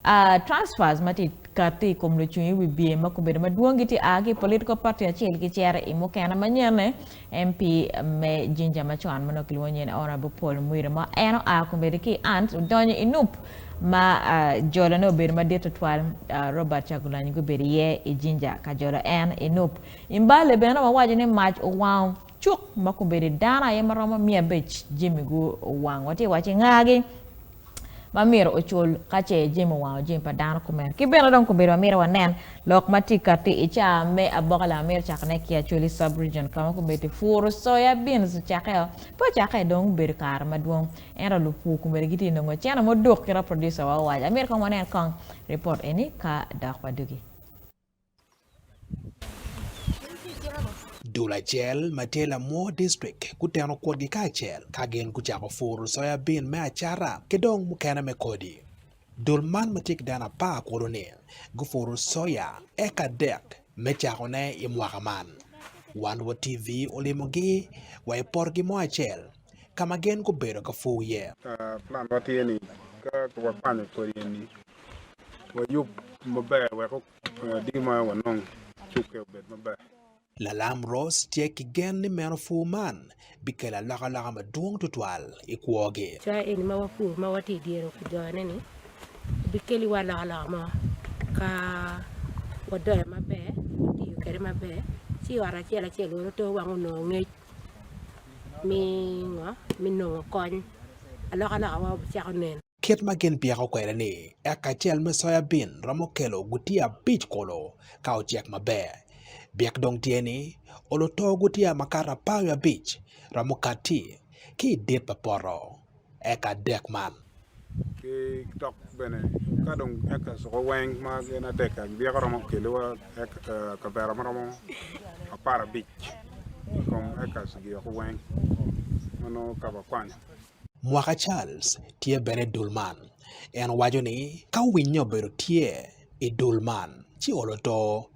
A Transfers ma tye ka ti i kom lucung i wibye ma gubedo madwong gitye a ki i political party acel gicito i mukene manyenne. MP me Jinja ma con ma nongo kilwongo nying ni Honourable Paul Mwira ma en oa kombeddi ki i Ants odonyo i Nup ma jolone obedo madit tutwal. A Robert Chagulanyi gubedo iye i Jinja ka jolo en i Nup. I Mbale bene wawaco ni mac owango cuk ma kombeddi dano aye ma romo miya abic jami guwang. Watye wacci ngagi. ma myero ocul ka ce jami owango jami pa dano kumeno. Ki bene dong kobedo ma myero wanen lok ma tye ka ti i caa me aboka lama myero cakone ki Acholi Sub-Region ka ma kombeddi puru soya, beans, ocakkeo. Pe ocakke dong obedo kare madwong ento lupur kombeddi gitye nongo cene muduk kit ma producer wa owaco. Myero kong wanen kong report eni ka dok wadugi. Dul acel ma tye Lamwor District guteno kwotgi kacel ka gin gucako puro soya bin me acata ki dong mukene me kodi. Dul man ma tye ki dano apar kono-ni gupuro soya eka adek me cakone i mwaka man. Wan wa TV olimogi wa i potgi mo acel. ka ma gin gubedo ka pur iye. Planwa tye ni ka wakwanyo kodi eni, wayub maber wek odii ma wanongo cukke obed maber. Lalam Rose tye ki gen ni meno pur man bikelo alokaloka madwong tutwal i kwogi. Coya eni ma wapuro ma watye i dyere ojoyone-ni bikeliwa alokaloka mo ka wadoyo maber, watiyo kwede maber, ci ot acel acel weny oto wang onongo ngec. Kit ma gin byeko kwede ni eka acel me soya bin romo kelo gutiya abic kulu ka ocek maber. Byek dong tye ni olo too gutiya makato apar wiye abic romo kati ki i dit pa poto. eka dek man. Ki dok bene ka dong eka cuko weng ma gin adek abyeka romo keliwa kavera ma romo apar abic i kom eka cigiyoko weng ma nongo ka wakwanyo. Mwaka Charles tye bene i dul man. En waco ni, Ka winyo obedo tye i dul man ci olo to,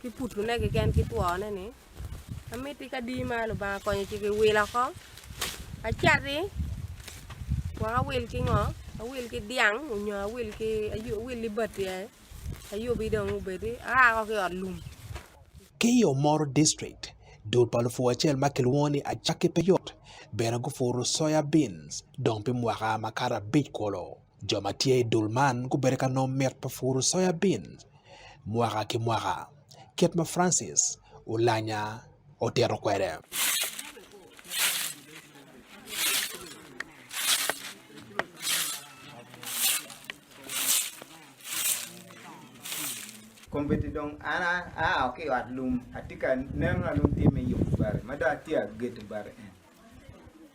ki putune keken ki twone ni amiti kadi ma Lubanga konyo ci ki wil oko acati wek awil ki ngo awil ki dyang nyo awil ki awil libati aye ayubi dong obedi aako ki ot lum. Ki i Omoro district, dul pa lupur acel ma kilwongo ni Acakki Peyot bene gupuro soya beans dong pi mwaka makato abic kulu. Jo ma tye i dul man gubedo ka nongo mit pa puro soya bin mwaka ki mwaka, kit ma Francis Olanya otito kwede.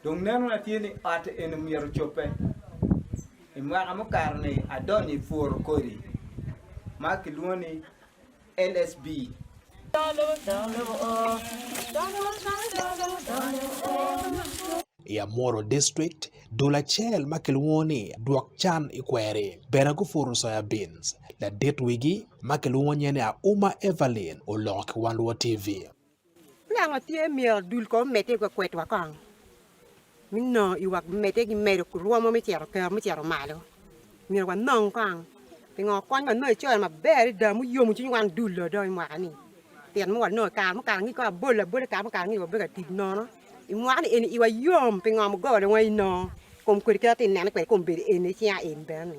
Dong nenona tye ni ot eni myero ocobbe. I mwaka mukato-ni adonyo i pworo kodi ma kilwongo ni LSB. I Amuru District, dul acel ma kilwongo ni Dwok Can i Kweri bene gupuro soya beans. Ladit wigi ma kilwongo nyene Auma Evelyn oloko ki Wan Luo TV. Pingo tye myero dul kong omedde i kwakwedwa kong me nongo i wang medde ki medo rwom me cito kero me cito malo? Myero wanong kong pingo kony wanongo i coron maber adada ma oyomo cwiny wan dul do dong i mwaka ni pien mogo wanongo kare mukare ngi kong abolo abola kare mukare ngi wabedo ka tic nono i mwaka ni eni iwa yom pingo mugola wa inongo kom kwede kit ma atineno kwede kong bedo eni cinga eni bene ni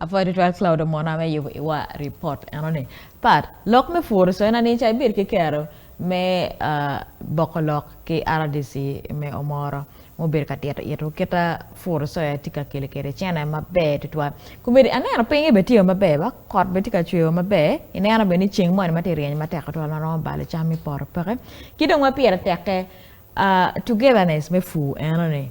Apwoyo tutwal Claudio mona me yubo iwa report enoni. Pat, lok me puro coyona ni ca ibed ki kero me uh, boko lok ki RDC me Omoro mubedo ka tito ito kita puro coya tye ka kelo kede cene maber tutwal. Kumedi aneno pinye be tye maber ba kot be tye ka cweyo maber. Ineno be ni ceng moni ma tye ryeny matek tutwal ma romo balo cam i poto peke. Ki dong ma pire teke uh, togetherness me pur enoni.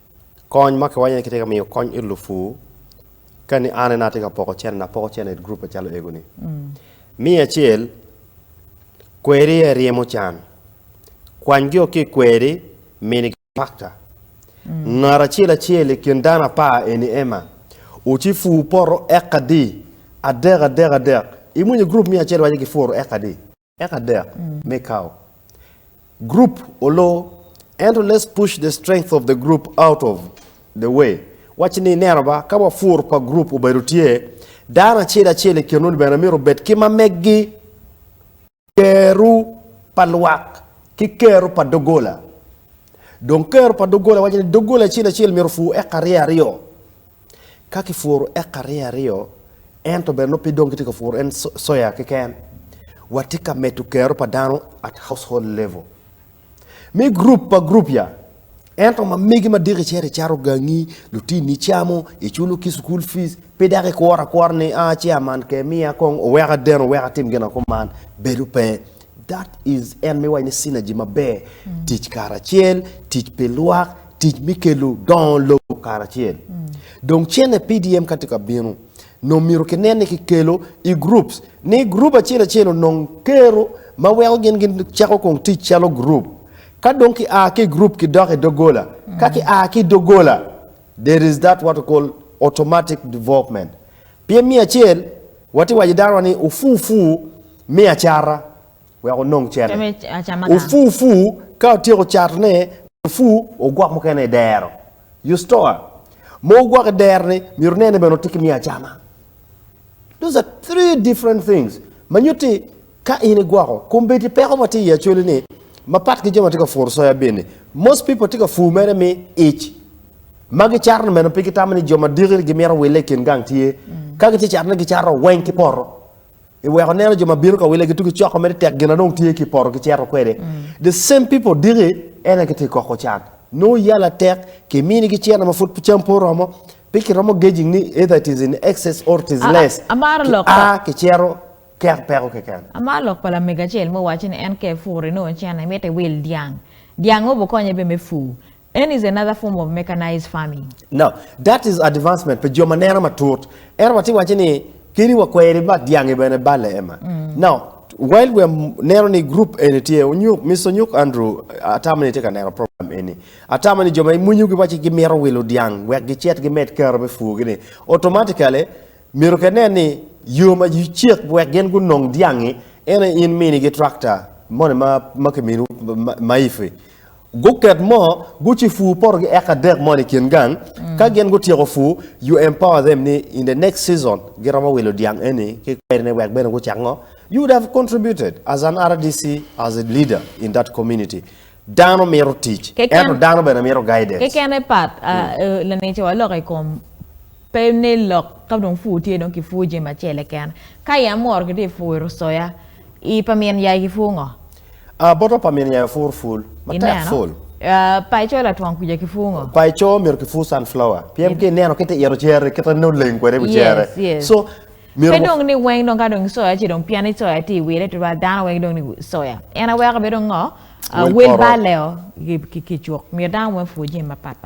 Kony ma kiwaco ni kitye ka miyo kony it lupur, kani an ena atye ka poko cente, apoko cente it gurup macalo ego ni. Miyo acel kweri aye ryemo can, kwany gi o ki i kweri mini gi pakta. Ngat acel acel i kin dano apar eni ema, wuci pur poto eka adi, adek adek adek, imwonyo gurup miyo acel waco gipuru eka adi. Eka adek me kawo group olo ento let's push the strength of the group out of the way wacci ni ineno ba ka wapur pa group obedo tye dano acel acel i kinwu ni bene myero obed ki ma meggi keru pa lwak ki keru pa dogola dong keru pa dogola wacci ni dogola acel acel myero opur eka aryo aryo Ka kipuro eka rye aryo, ento bene nongo pe dong kitye ka puro en soya keken, watye ka medo kero pa dano at household level. Me gurup pa gurup ya, ento ma megi ma diki cito icato gangi, lutinni icamo, iculo ki cukul fees, pe dako ikuro akura ni a chairman ke miya kong owek aden owek atim gin akuman, bedo pe. That is en miwaco ni synergy maber, tic karacel, tic pi lwak, tic mi kelu dongo lobo karacel. Dong cene PDM ka tye ka binu, nong myero ki nen ni ki kelo i groups, ni group acel acel onong kero ma weko gin gi cako kong tic calo group. Ka dong ki a ki i group ki dok i dogola, ka ki a ki i dogola, there is that what we call automatic development. Pien me acel, wa tye waco i dano wa ni, ofu ofu, Mi acata, wek onong cene. Ofu ofu, ka otyeko catone, mi ofu ogwok mukene i dero. You store mo ogwok i dero-ni, myero inen ni bene otye ki mi acama. Those are three different things ma nyuto ni ka in igwoko, kombeddi peko ma tye i acoli-ni mapat ki jo ma tye ka puro soya bean-ni. Most people tye ka pur mere me ic. Ma gicato-ni bene pe gitamo ni jo madiki gimito wille i kin gang tye. Ka gitye catone, gicato weng ki poto. I weko neno jo ma bino ka wile gitugi coko mere tek gina dong tye ki poto ki ceto kwede. The same people diki ena ki ti koko can. No yala tek ki mini ki cena ma pud cam po romo pi ki romo gauging ni either it is in excess or it is less. Ki a ki cero kek peko keken. Amaro lok pa lamego acel ma owaco ni en ka epuro inongo cena imito iwil dyang. Dyang o bu konye be me pur. En is another form of mechanized farming. No, that is advancement pi jo ma neno matut. Ento watye waco ni kadi wa kweri bi mak dyangi bene balle ema. No, while we are neno ni group eni tye onyuk, Mister Onyuk Andrew, atamo ni itye ka neno program eni. Atamo ni jo ma imwinyo gi waci gimito wilo dyang wek gicit gimed keto me pur gi ni, automatically myero ke nen ni yo ma you cek wek gin gunong dyangi ene in mini gi tractor moni ma ma kiminiwu ma, ma ifi. Guket mo, guci pur poto gi eka adek mo ni kin gang, ka gin gutyeko pur, you empower them ni in the next season giromo wilo dyang eni ki kweri ne wek bene gucak ngo, you would have contributed as an RDC as a leader in that community. Dano mito tic, Keken- ento dano bene mito guidance. Kekene pat, ah, laneca walok i kom. Pe nen lok ka dong pur tye dong kipur jami acel keken. Ka i amworo kitye puro soya, i pa min yai kipur ngo? A boto pa min yai opur pul matek pul. A pa i coo latwong kwica kipur ngo? Pa i coo myero kipur sunflower pien ki neno kite ito cere kite nongo oleng kwede iwi cere so myero. Pe dong ni weng dong ka dong soya ci dong piani soya tye iwile tutwal dano weng dong ni soya en aweko bene dong ngo? Wel balo leo kicuk myero dano weng opur jami mapat pat.